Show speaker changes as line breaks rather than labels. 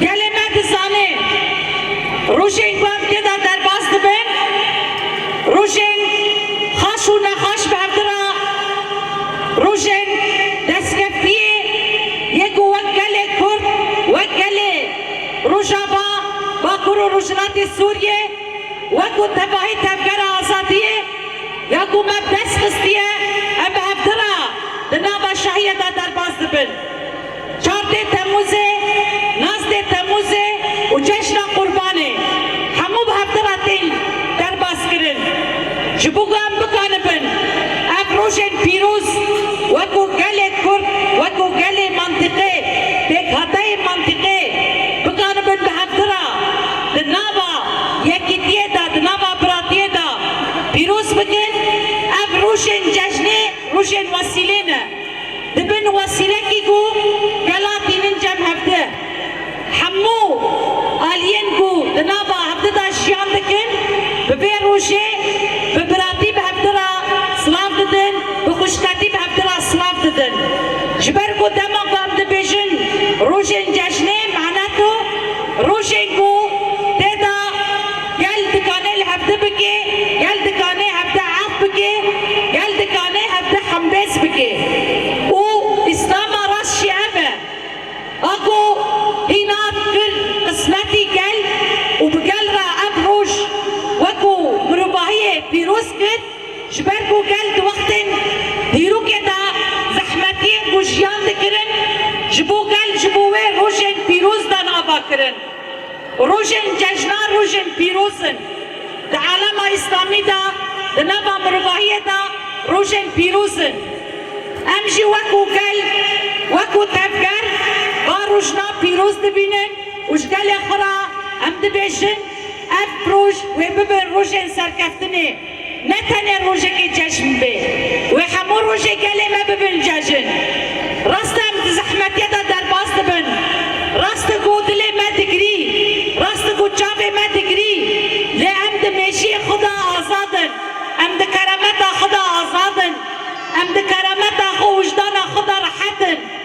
Gelê me dizane rojên ku ev tê de derbas dibin rojên xweş û nexweş berdira rojên destkeftiyê ye ku wek gelê kurd wek gelê Rojava, Bakur û Rojhilatê Sûriyê wekû tevahî tevgera azadiyê ya ku me bi dest xistiye em bi hevdira di nava şahiyê de derbas dibin. Çar dê Temmûzê, nas dê Temmûzê û ceşna Qurbanê hemû bi hevdira tên derbaskirin. Ji bo ku em bikaribin ev rojên pîroz weko gelê Kurd, weko gelê mantîqê, pêkhateyê mantîqê bikaribin bi hevdira di nava yekîtiyê de, di nava biratiyê de pîroz bikin, ev rojên cejnê, rojên wesîlê ne. Dibin wesîrekî ku gela tînin cem hev di. Hemû aliyên ku di nava hev di de jiyan dikin bi vê rojê bi biratî bi hev di re silav didin, bi xwişketî bi hev di re silav didin. Ji ber ku dema ku em dibêjin rojên cejnê menet û rojên ku tê de. Gel dikane li hevde bike, gel dikane hevde ef bike, gel dikane hevde hemdez bike û Îslama rast jî ev e. A ku hîna kir qismetî gel û bi gel re ev roj wekû mirovahiyê pîroz kir, ji ber ku gel di wextên dîrokê de zehmetiyên ku jiyan dikirin ji bo gel ji bo wê rojên pîroz dan ava kirin. Rojên cejna rojên pîroz in. Di alema îslamî de, di nava mirovahiyê de rojên pîroz in. Em jî wek û gel, wek û tevger va rojna pîroz dibînin û ji gelê xwe re em dibêjin ev roj wê bibin rojên serkeftinê. Ne tenê rojekê cejn bê, wê hemû rojê gelê me bibin cejn. Rast e em di zehmetê de derbas dibin, rast e ku dilê me digirî, rast e ku çavê me digirî, lê em di mêjiyê xwe de azad in, em di kerameta xwe de azad in, em di kerameta xwe û wijdana xwe de rehet in.